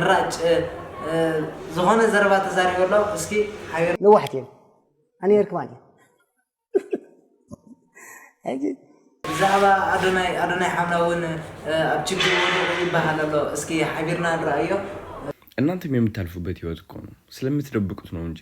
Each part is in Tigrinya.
ራጭ ዝኾነ ዘረባ ተዛሪቡ ኣሎ እስኪ ሓቢር ነዋሕቲ እዮም ኣነ ኔርክማ ድ ሕጂ ብዛዕባ ኣዶናይ ኣዶናይ ሓምላ እውን ኣብ ችግር ወዲቑ ይበሃል ኣሎ እስኪ ሓቢርና ንረኣዮ እናንተም የምታልፉበት ህይወት እኮ ነው ስለምትደብቁት ነው እንጂ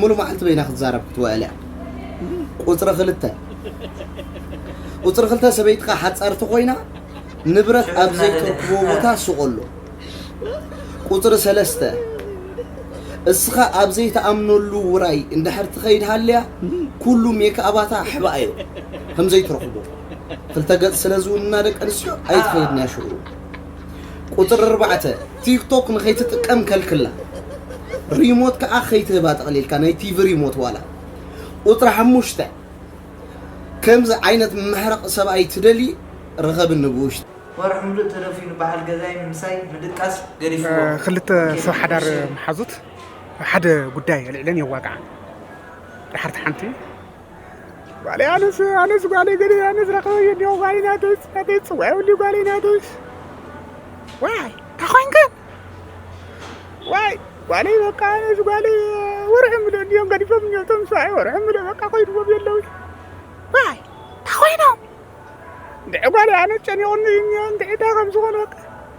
ሙሉእ መዓልቲ በይና ክትዛረብ ክትውዕል እያ። ቁጽሪ ክልተ ቁጽሪ ክልተ ሰበይትኻ ሓጻርቲ ኮይና ንብረት ኣብ ዘይተርክቦ ቦታ ስቆሎ። ቁጽሪ ሰለስተ እስኻ ኣብ ዘይተኣምነሉ ውራይ እንድሕር ትኸይድ ሃልያ ኩሉ ሜክኣባታ ኣሕባኣዮ ከም ዘይትረኽቦ ክልተ ገጽ ስለ ዝውንና ደቂ ኣንስትዮ ኣይትኸይድንያ ሽዑ ቁጽሪ ኣርባዕተ፣ ቲክቶክ ንኸይትጥቀም ከልክላ፣ ሪሞት ከኣ ከይትህባ ጠቕሊልካ፣ ናይ ቲቪ ሪሞት ዋላ። ቁጽሪ ሓሙሽተ፣ ከምዚ ዓይነት መሕረቕ ሰብኣይ ትደልዪ ርኸብኒ ብውሽጢ። ወርሒ ምሉእ ተደፍዩ ንበዓል ገዛይ ንምሳይ ምድቃስ ገዲፍዎ። ክልተ ሰብ ሓዳር መሓዙት ኣብ ሓደ ጉዳይ ኣልዒለን የዋግዓ። ደሓር እታ ሓንቲ ጓለይ ኣነስ ኣነስ ጓለይ ግን ኣነስ ረኸበኝ እንዲሁ ጓለይ ናተይ ናተይ ጽዋይ እንዲሁ ጓለይ ናተይ ዋይ ታኾንከ ዋይ ጓለይ በቃ ኣነስ ጓለይ ወርሒ ምሎ እንዲዮም ገዲፎም እንዲዮ ቶም ሰብኣይ ወርሒ ምሎ በቃ ኮይድዎም የለው ዋይ ታኾይኖም እንድዒ ጓለይ ኣነስ ጨኒቑኒ እንዲዒ እንታይ ከም ዝኾነ በቃ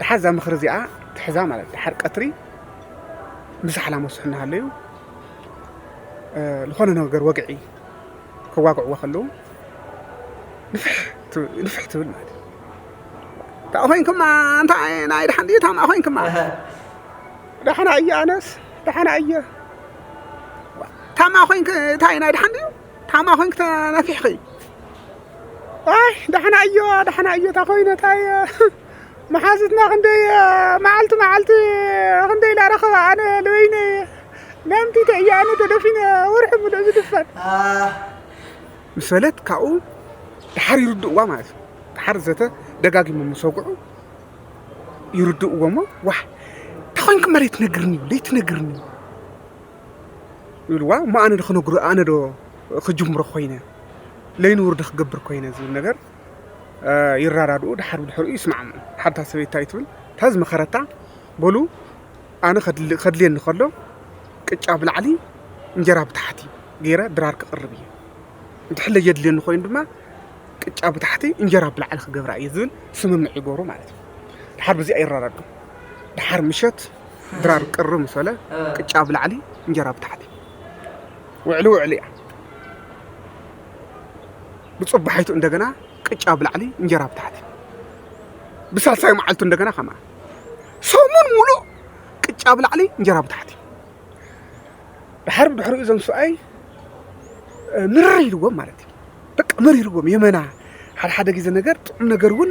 ደሓር እዛ ምኽሪ እዚኣ ትሕዛ ማለት ደሓር ቀትሪ ምሳሕላ መስሑ እናሃለዩ ዝኾነ ነገር ወግዒ ከዋግዕዎ ከለዉ ንፍሕ ትብል ማለት እዩ ታኣ ኮይንክማ እንታ ናይ ደሓን ድዩ ታማ ኮይንክማ ደሓና እየ ኣነስ ደሓና እየ ታማ ኮይንክ እንታይ ናይ ደሓን ድዩ ታማ ኮይንኪ ተናፊሕኺ ኣይ ዳሕና እዮ ዳሕና እዮ እታ ኮይነት ኣየ መሓዙትና ክንደይ መዓልቲ መዓልቲ ክንደይ ኢላ ረኸባ ኣነ ልበይነየ ለምቲተ እየ ኣነ ተደፊነ ወርሒ ምሉእ ዝድፈን ምስ በለት ካብኡ ድሓር ይርድእዋ ማለት እዩ ድሓር ዘተ ደጋጊሞ ምስ ወግዑ ይርድእዎ እሞ ዋሕ ተኾይንክ መሬት ነግርኒ ለይቲ ነግርኒ ይብልዋ እሞ ኣነ ዶ ክነግሮ ኣነ ዶ ክጅምሮ ኮይነ ለይንቡር ዶ ክገብር ኮይነ ዝብል ነገር ይረዳድኡ ድሓር ብድሕሪኡ ይስማዕምዑ ሓታ ሰበይቲ እንታይ ትብል እታ ዝመኸረታ በሉ ኣነ ከድልየኒ ከሎ ቅጫ ብላዕሊ እንጀራ ብታሕቲ ገይረ ድራር ክቕርብ እዩ እንድሕር ለየድልየኒ ኮይኑ ድማ ቅጫ ብታሕቲ እንጀራ ብላዕሊ ክገብራ እዩ ዝብል ስምምዕ ይገብሩ ማለት እዩ ድሓር ብዚኣ ይረዳድኡ ድሓር ምሸት ድራር ቅር ምስ በለ ቅጫ ኣብ ላዕሊ እንጀራ ኣብ ታሕቲ ውዕሊ ውዕሊ እያ ብፅባሒቱ እንደገና ቅጫ ኣብ ላዕሊ እንጀራ ኣብ ታሕቲ ብሳልሳይ መዓልቱ እንደገና ከምኣ ሰሙን ሙሉእ ቅጫ ኣብ ላዕሊ እንጀራ ኣብ ታሕቲ ድሓር ብድሕሪኡ እዞም ሰብኣይ ምርር ኢልዎም ማለት እዩ በቃ መሪርዎም የመና ሓደ ሓደ ግዜ ነገር ጥዑም ነገር እውን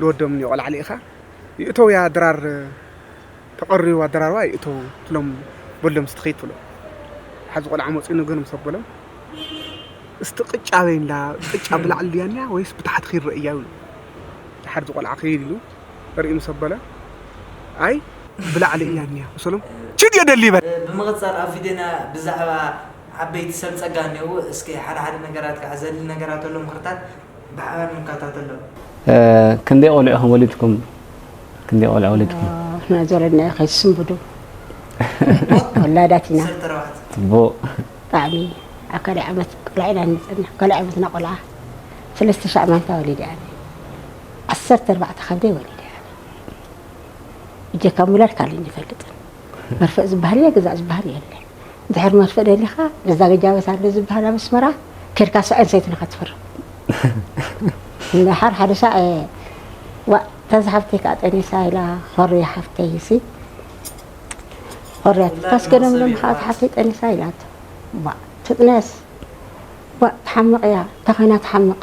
ንወዶም እኒኦ ቆልዓ ልኢኻ ይእተውያ ድራር ተቀርዩ ኣደራርባ ይእተው ትሎም በሎም እስቲ ኪድ ትብሎ ሓዚ ቆልዓ መፅዩ ንገር ምስ ኣበሎም እስቲ ቅጫ በይንላ ቅጫ ብላዕሊ ድያ እኒኣ ወይስ ብታሕቲ ኪድ ረእያ ይብሉ ድሓር እዚ ቆልዓ ኪድ ኢሉ ርኢ ምስ ኣበለ ኣይ ብላዕሊ እያ እኒኣ መሰሎም ችድ የደሊ ይበል ብምቕጻል ኣብ ቪድዮና ብዛዕባ ዓበይቲ ሰብ ጸጋ እንየዉ እስኪ ሓደ ሓደ ነገራት ክዓ ዘድሊ ነገራት ኣሎ ምኽርታት ብሓባር ንከታተሎም። ክንደይ ቆልዑ ኢኹም ወሊድኩም? ክንደይ ቆልዑ ወሊድኩም? ንሕና ዝወለድናዮ ከይትስንብዱ ወላዳት ኢና። ዓሰርተ ኣርባዕተ ጽቡቕ ብጣዕሚ ኣብ ካልኣይ ዓመት ቆልዓ ኢና ንፅና ካልኣይ ዓመትና ቆልዓ ሰለስተ ሻዕ ማንታ ወሊደ ኣነ ዓሰርተ ኣርባዕተ ከብደይ ወሊደ ኣነ እጀካ ምውላድ ካልእ ኣይንፈልጥን መርፍእ ዝባሃል እየ ግዛእ ዝባሃል የለ ድሕር መርፍእ ደሊካ በዛ ገጃበት ኣለ ዝባሃል ኣብ ኣስመራ ከድካ ስዐን ሰይትናካ ትፍርም ድሓር ሓደ ሻዕ ዋእ ተዚ ሓፍተይ ከዓ ጠኒሳ ኢላ ኾርያ ሓፍተይ እሲ ኾርያ ታስገደምሎም ከዓ ተሓፍተይ ጠኒሳ ኢላቶ ትጥነስ ዋእ ትሓምቕ እያ ተኾይና ትሓምቕ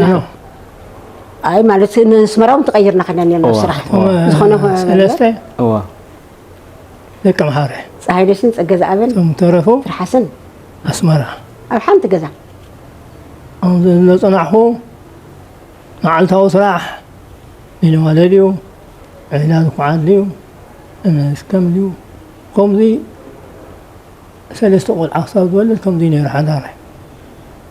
ኖ ኣይ ማለት ንስመራ እውን ተቐይርና ከና ነርና ስራሕ ዝኾነ ሰለስተ እዋ ደቂ ምሓረ ፀሃይ ደስን ፀገ ዝኣበን እቶም ተረፉ ትርሓስን ኣስመራ ኣብ ሓንቲ ገዛ ኣብዚ ዘፅናሕኹ መዓልታዊ ስራሕ ሚኒማለ ድዩ ዒላ ዝኩዓት ድዩ እነስከም ድዩ ከምዚ ሰለስተ ቆልዓ ክሳብ ዝወልድ ከምዚ ነይሩ ሓዳረ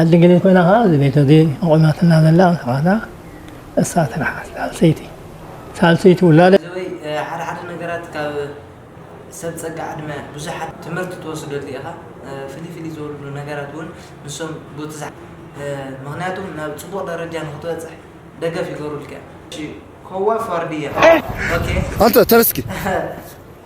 ዓዲ ግሊ ኮይና ከኣ እዚ ቤት እዚ ኣቑማትና ዘላ ንስኻታ እሳ ትርሓስ ሳልሰይቲ ሳልሰይቲ ውላደ። ዘበይ ሓደ ሓደ ነገራት ካብ ሰብ ጸጋ ዕድመ ብዙሓት ትምህርቲ ትወስደሉ ኢኻ ፍልይ ፍልይ ዝበሉ ነገራት ውን ንሶም ጎትዝሓ ምኽንያቱም ናብ ጽቡቕ ደረጃ ንኽትበጽሕ ደገፍ ይገብሩልካ እዮም። እሺ ኮዋፍ ዋርድያ ኦኬ። ኣንተ ተነስ እስኪ።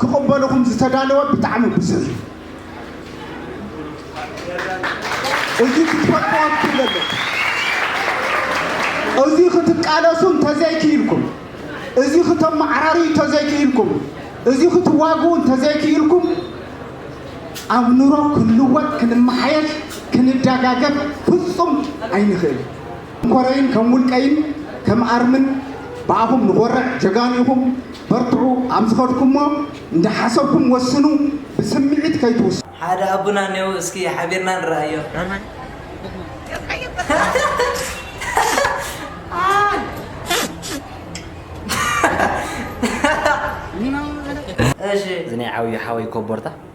ክቕበልኹም ዝተዳለወ ብጣዕሚ ብዙሕ እዩ። እዚ ክትፈልጥዎ ትክእሉ ኣለኩም። እዚ ክትቃለሱ እንተዘይክኢልኩም፣ እዚ ክተመዓራርዩ እንተዘይክኢልኩም፣ እዚ ክትዋግኡ እንተዘይክኢልኩም ኣብ ኑሮ ክንልወጥ ክንመሓየሽ ክንደጋገፍ ፍጹም ኣይንክእልን። ኮረይን ከም ውልቀይን ከም ኣርምን ብኣኹም ንኾርዕ ጀጋኑ ኢኹም በርትዑ ኣብ ዝኸድኩሞ እንዳሓሰብኩም ወስኑ ብስምዒት ከይትውስኑ። ሓደ ኣቡና እኔዉ እስኪ ሓቢርና ንርኣዮ። እሺ። እዚ ናይ ዓብዩ ሓወይ ኮቦርታ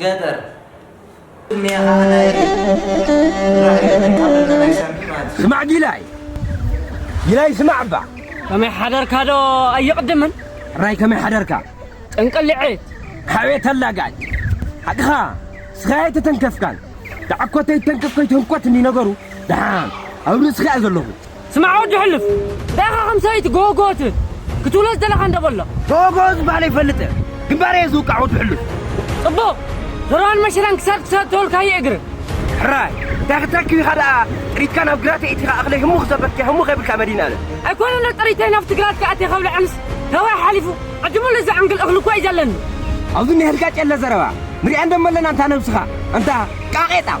ገጠር ስማዕ ጊላይ ጊላይ ስማዕ እባ ከመይ ሓደርካ ዶ ኣይቕድምን ራይ ከመይ ሓደርካ ጥንቅልዕት ሓቤት ኣላጋጭ ሓቅኻ ስኻ ኣይተተንከፍካን ዳዕኮተይ ተንከፍ ከይትህንኮት እኒ ነገሩ ደሓን ኣብ ርእስኻ እያ ዘለኹ ስማዕ ወዲ ሕሉፍ ዳኻ ከም ሰበይቲ ጎጎት ክትብሎ ዝደለኻ እንዶ በሎ። ጎጎ ዝበሃል ኣይፈልጥን ግንባር እየ ዝውቃዕ ወዲ ሕሉፍ። ጽቡቕ ዘረባን መሸላን ክሳድ ክሳድ ተወልካዮ እግር። ሕራይ እንታይ ክትረክብ ኢኻ ደኣ ጥሪትካ ናብ ግራት የእቲኻ እኽለይ ህሙ ክዘበትከ ህሙ ከይብልካ መዲናለ። ኣይኮነን ዶ ጥሪተይ ናብቲ ግራትካ ኣትየ ከብልዐንስ ተባይ ሓሊፉ ዕድሙለ ዝዕንግል እኽሊ እኳ እዩ ዘለኒ። ኣብዚ እንሄልካ ጨለ ዘረባ ንሪኣ እንዶ መለና እንታ ነብስኻ እንታ ቃቄጣም።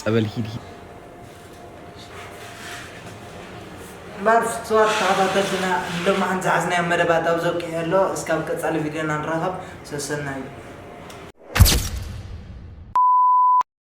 ጸበል ሂድ ሂድ። እምበኣር ፍቱዋት ተኸታተልትና ንሎምዓንቲ ዝሓዝናዮ መደባት ኣብ'ዚ ኣብቂዑ ኣሎ። እስካብ ቀጻሊ ቪድዮና ንራኸብ። ሰሰናዩ!